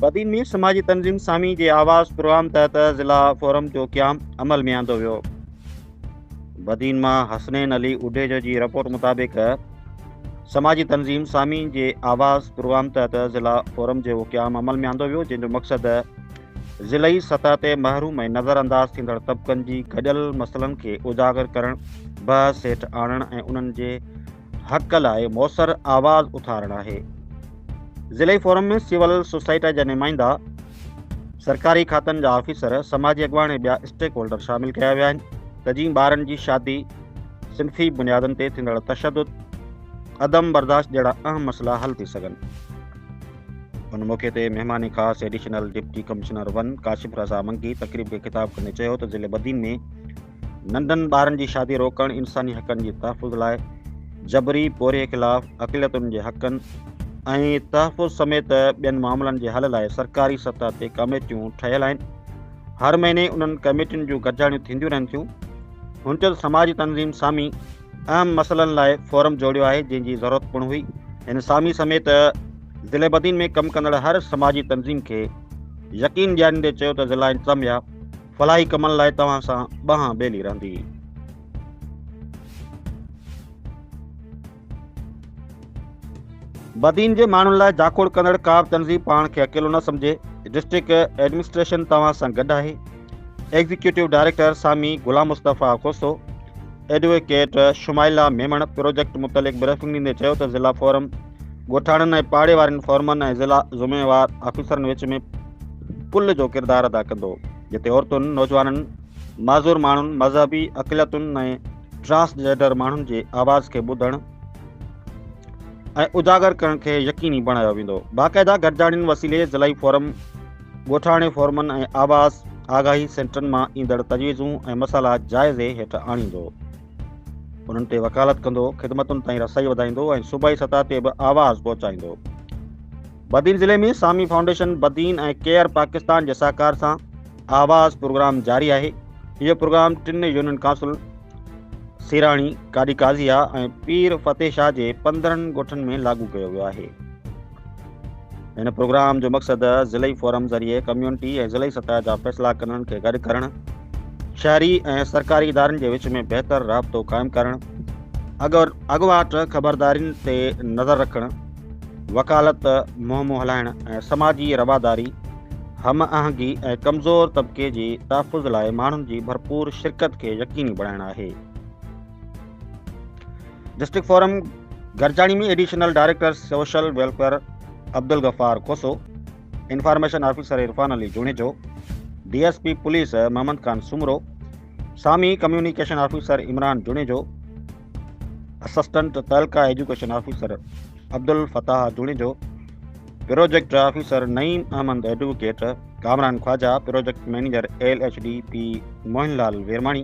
بدين ۾ سماجي تنظيم سامي جي آواز پروگرام تحت ضلع فورم جو قيام عمل ۾ آندو ويو بدين مان حسنين علي اڊيجو جي رپورٽ مطابق سماجي تنظيم سامي جي آواز پروگرام تحت ضلع فورم جو قيام عمل ۾ آندو ويو جنهن جو مقصد ضلعي سطح تي محروم ۽ نظر انداز ٿيندڙ طبقن جي گڏيل مسئلن کي اجاگر ڪرڻ، بحث هيٺ آڻڻ ۽ انهن جي حق لاء موثر آواز اٿارڻ آهي. ضلعي فورم ۾ سول سوسائٽي جا نمائندا، سرڪاري کاتن جا آفيسر، سماجي اڳواڻ ۽ ٻيا اسٽيڪ هولڊر شامل ڪيا ويا آهن ته جيئن ٻارن جي شادي، صنفي بنيادن تي ٿيندڙ تشدد، عدم برداشت جهڙا اهم مسئلا حل ٿي سگهن. ان موقعي تي مهمان خاص additional deputy commissioner one Kashif Raza Mangi تقريب کي خطاب ڪندي چيو ته ضلع بدين ۾ ننڍن ٻارن جي شادي روڪڻ انساني حقن جي تحفظ لاء جبري پورهيي خلاف اقليتن جي حقن ۽ تحفظ سميت ٻين معاملن جي حل لاء سرڪاري سطح تي ڪميٽيون ٺهيل آهن هر مهيني انهن ڪميٽين جون گڏجاڻيون ٿينديون رهن ٿيون هن چيو ته سماجي تنظيم سامي اهم مسئلن لاء فورم جوڙيو آهي جنهن جي ضرورت پڻ هئي هن سامي سميت ضلعي بدين ۾ ڪم ڪندڙ هر سماجي تنظيم کي يقين ڏياريندي چيو ته ضلع انتظاميا فلاحي ڪمن لاء توهان سان ٻانهن ٻيلي رهندي بدين جي ماڻهن لاء جاکوڙ ڪندڙ ڪا به تنظيم پاڻ کي اڪيلو نه سمجهي ڊسٽرڪٽ ايڊمنسٽريشن توهان سان گڏ آهي executive director Sami Ghulam Mustafa Khoso advocate Shumaila Memon project متعلق بريفنگ ڏيندي چيو ته ضلع فورم ڳوٺاڻن ۽ پاڙي وارن فورمن ۽ ضلع ذميوار آفيسرن وچ ۾ پل جو ڪردار ادا ڪندو جتي عورتن نوجوانن معذور ماڻهن مذهبي اقليتن ۽ ٽرانسجينڊر ماڻهن جي آواز کي ٻڌڻ ۽ اجاگر ڪرڻ کي يقيني بڻايو ويندو باقاعده گڏجاڻين وسيلي ضلعي فورم ڳوٺاڻي فورمن ۽ آواز آگاهي سينٽرن مان ايندڙ تجويزون ۽ مسئلا جائزي هيٺ آڻيندو. انهن تي وڪالت ڪندو، خدمتن تائين رسائي وڌائيندو ۽ صوبائي سطح تي به آواز پهچائيندو. بدين ضلعي ۾ سامي فائونڊيشن بدين ۽ ڪيئر پاڪستان جي سهڪار سان آواز پروگرام جاري آهي. اهو پروگرام ٽن يونين ڪائونسل سيراڻي، ڪاڏي قاضيه ۽ پير فتح شاهه جي پندرهن ڳوٺن ۾ لاڳو ڪيو ويو آهي. هن پروگرام جو مقصد ضلعي فورم ذريعي ڪميونٽي ۽ ضلعي سطح جا فيصلا ڪنن کي گڏ ڪرڻ شهري ۽ سرڪاري ادارن جي وچ ۾ بهتر رابطو قائم ڪرڻ اگر اڳواٽ خبردارين تي نظر رکڻ وڪالت مهمون هلائڻ ۽ سماجي رواداري هم آهنگي ۽ ڪمزور طبقي جي تحفظ لاء ماڻهن جي ڀرپور شرڪت کي يقيني بڻائڻ آهي district forum Gurchani ۾ additional director social welfare Abdul Ghaffar Khoso, information officer Irfan Ali Junejo, D S P police Muhammad Khan Soomro, Sami communication officer Imran Junejo, assistant تعلقه education officer Abdel Fattah Junejo, project officer Naeem Ahmed advocate, Kamran Khawaja, project manager L H D P Mohan Lal Virmani,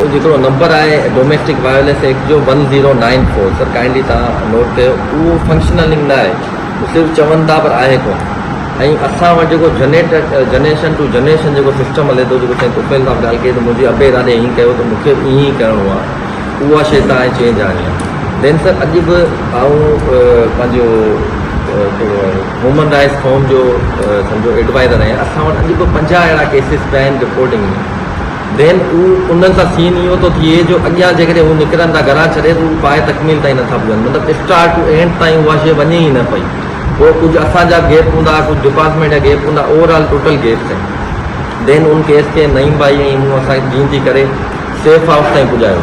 اهو جيڪڙو نمبر آهي ڊوميسٽڪ وائرليس ايڪٽ جو one zero nine four sir kindly تهان note ڪيو اهو functional نه آهي صرف چون ٿا پر آهي ڪون ۽ اسان وٽ جيڪو جنريٽ جنريشن ٽو جنريشن جيڪو سسٽم هلي ٿو جيڪو سائين طوفيل صاحب ڳالهه ڪئي ته منهنجي ابي ارادي ائين ڪيو ته مون کي به ائين ئي ڪرڻو آهي اها شي تهان چينج آڻي آهي دين سر اڄ به آئون پنهنجو ڪهڙو آهي هيومن رائٽس فورم جو سمجھو ايڊوائزر آهيان اسان وٽ اڄ به پنجاهه اهڙا ڪيسز پيا آهن رپورٽنگ ۾ ذهن اهو انهن سان سين اهو ٿو ٿئي جو اڳيان جيڪڏهن هو نڪرن ٿا گهران ڇڏي ته اهو پائي تڪميل تائين نٿا پهچن مطلب اسٽارٽ ٽو اينڊ تائين اها شيء وڃي ئي نه پئي پوء ڪجهه اسان جا گيپ هوندا ڪجهه ڊپارٽمينٽ جا گيپ هوندا اوور آل ٽوٽل گيپ تائين ذهن ان ڪيس کي نعيم ڀائي ۽ مون اسان جين ٿي ڪري سيف هائوس تائين پڄايو.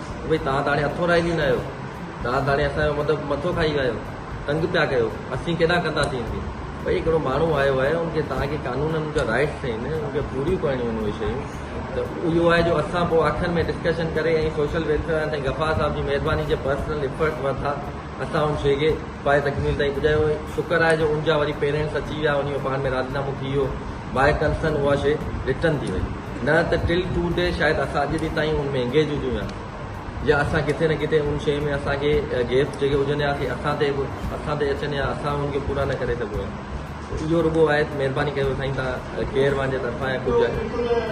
ڀئي توهان ته هاڻي اٿو رهجي نه آهيو، توهان ته هاڻي اسان جو مطلب مٿو کائي ويا آهيو، تنگ پيا ڪيو، اسين ڪيڏانهن ڪنداسين ان کي، ڀئي هڪڙو ماڻهو آيو آهي ان کي توهان کي قانونن جا رائيٽس آهن ان کي پوريون ڪرڻيون آهن اهي شيون ته اهو آهي جو اسان پوء آخر ۾ ڊسڪشن ڪري ۽ سوشل ويلفيئر وارن سائين غفار صاحب جي مهرباني جي پرسنل ايفرٽس ورتا اسان ان شيء کي پايه تڪميل تائين پڄايو شڪر آهي جو ان جا وري پيرينٽس اچي ويا انهي جو پاڻ ۾ راضينامو ٿي ويو. باء ڪنسرن اها شيء رٽن ٿي وئي نه ته ٽل ٽو ڊي شايد اسان اڄ به تائين ان ۾ انگيج هجون ها يا اسان ڪٿي نه ڪٿي ان شيء ۾ اسان کي گيپ جيڪي هجن ها سي اسان تي به اسان تي اچن ها اسان انهن کي پورا نه ڪري سگهون ها اهو رڳو آهي مهرباني ڪيو سائين توهان ڪير پنهنجي طرفان يا ڪجهه